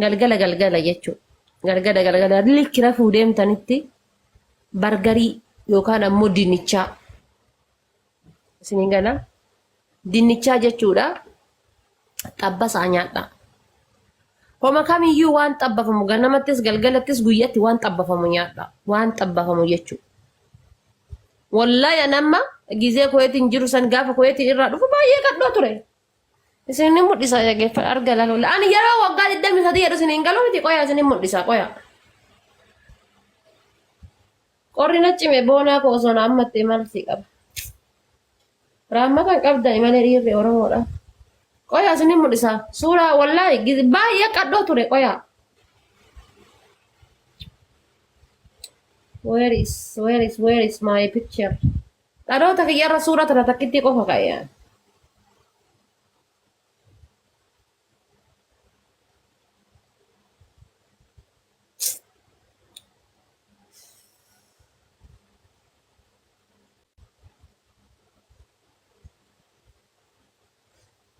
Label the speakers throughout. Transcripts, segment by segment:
Speaker 1: Galgala galgala jechuudha. Galgala galgala likki rafuu deemtanitti bargarii yookaan ammoo dinnichaa isiniin gala. Dinnichaa jechuudha xabbasaa nyaadhaa. Homa kamiyyuu waan xabbafamu ganamattis galgalattis guyyatti waan xabbafamu nyaadhaa. Waan xabbafamu jechuudha. Wallahi an amma gizee kuweetiin jiru san gaafa kuweetiin irraa dhufu baay'ee qadhoo ture. Isin ni mul'isa yageeffa arga lalola. Ani yeroo waggaa 23 jedhu isin hin galu miti qoya isin hin mul'isa qoya. Qorri na cime boonaa koo osoo na ammattee maalti qaba. Raammatan qabda imalee dhiirri Oromoodha. Qoya isin hin mul'isa. Suuraa wallaahi giz- baay'ee qadhoo ture qoya. Where is where is where is my picture? Dhaloota kiyyarra suura tana takkittii qofa ka'e ani.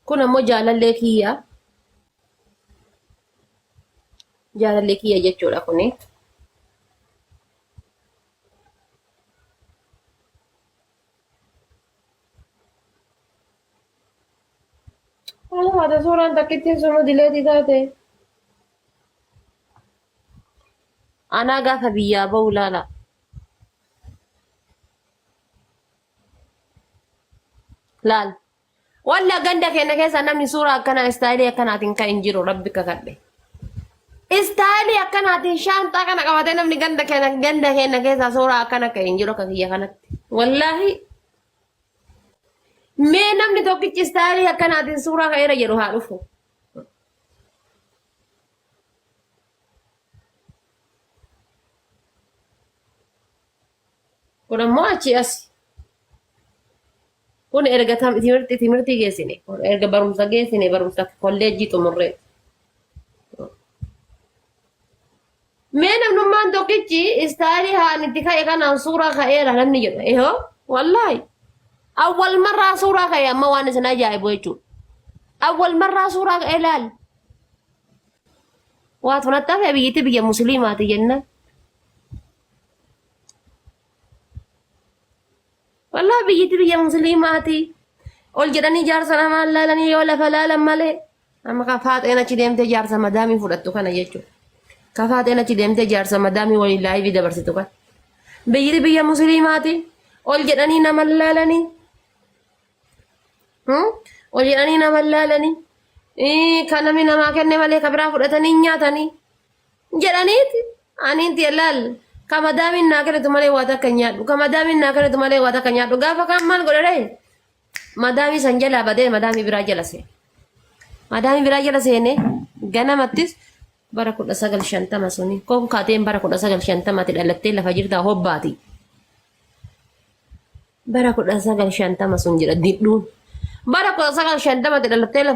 Speaker 1: Kun ammoo jaalallee kiyya. Jaalallee kiyya jechuudha kuni. Haadha suuraan takkittiin sunu dileetii taate. Anaa gaafa biyyaa ba'u ilaala. laal walla ganda keenya keessa namni suuraa akkana istaayilii akkanaatiin kan hin jiru rabbi kakadhe istaayilii akkanaatiin shaanxaa kana qabatee namni ganda keenya ganda keenya keessa suuraa akkana kan hin jiru akka kiyya kanatti wallaahi mee namni tokkichi istaayilii akkanaatiin suuraa ka'eera jedhu haa dhufu. kun ammoo achii asi kun erga tam- timirti timirti geessine kun erga barumsa geessine barumsa kolleejjii xumurree mee namnummaan tokkichi istaayilii haan itti ka'e kanaan suuraa ka'eera namni jedha ehoo wallaahi awwal marraa suuraa ka'e amma waan isin ajaa'ibu jechuudha awwal marraa suuraa ka'e laal waatu nattafe biyyitti biyya musliimaati jennaan Walaa biyyatti biyya musliimaati. Ol jedhanii jaarsa namaa laalanii yoo lafa laalan malee amma kan faaxeen achi deemtee jaarsa madaamii fudhattu kana jechuudha. Kan faaxeen achi deemtee jaarsa madaamii waliin laayivii dabarsitu kana. Biyyatti biyya musliimaati. Ol jedhanii nama laalanii. Hmm? Ol jedhanii nama laalanii. Ii, Kan namni namaa kenne malee kan biraa fudhatanii hin nyaatanii. jedhaniiti aniin tiya laal ka madaamiin naa kennitu malee waa takka hin nyaadhu ka madaamiin naa kennitu malee waa takka hin nyaadhu gaafa kaan maal godhe ree madaamii san jalaa badee madaamii biraa jala seene madaamii biraa jala seene ganamattis bara kudha sagal shantama suni konkaateen bara kudha sagal shantamati dhalattee lafa jirtaa hobbaati bara kudha sagal shantama sun jedha didhuun bara kudha sagal shantamati dhalattee lafa